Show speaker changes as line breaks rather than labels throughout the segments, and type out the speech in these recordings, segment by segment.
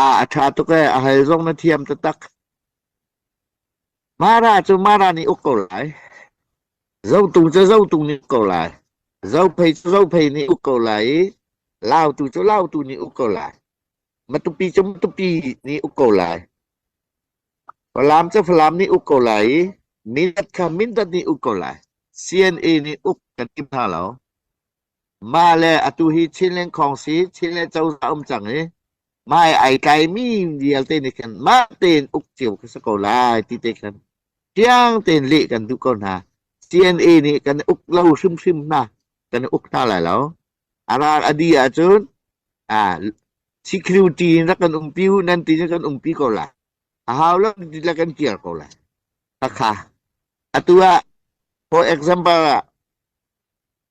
Aa a ṭha tuk ee, a hal zong na thiam taktak. Mara cu Mara nih uk ko lai. Zotung cu Zotung nih uk ko lai. Zophei cu Zophei nih uk ko lai i Lautu cu Lautu nih uk ko lai. Matupi cu Matupi nih uk ko lai. Falam cu Falam nih uk ko lai i Mindat kha Mindat nih uk ko lai. CNA nih uk kan tim hna lo. Mah le atu hi Chin le Khawng si Chin le Cozah a um cang i mah i ai tlaimi vialte nih khin mah tein uk cio khi si ko lai ti te khin fiang tein leh kan duh ko hna. CNA nih kan i uk lo hrimhrim hna. Kan i uk hna lai lo. A ral a di ahcun ah security in rak kan umpi u nan ti in kan umpi ko lai. A hau lo ti la kan kir ko lai. Takha. Atu ah for example ah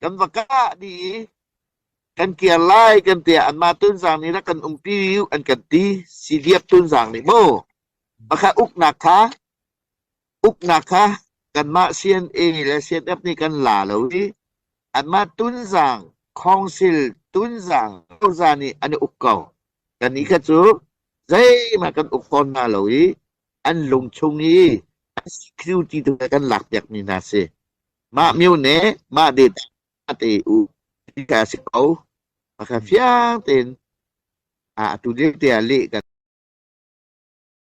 kan va kah dih i kan kir lai kan tiah anmah tunzang nih rak kan umpi an kan ti siliap tunzang nih maw pakhat uknak kha uknak kha kanmah CNA le CNF nih kan la lo i anmah tunzang khongsil tunzang cozah nih an i uk ko kan nih kha cu zeimah kan uk fawn hna lo i an lung chung i security tu kan lakpiak mi hna si Mah myo ne mah det ah te u ti kha a si ko. Pakha fiang tein atu ding te ah leh kan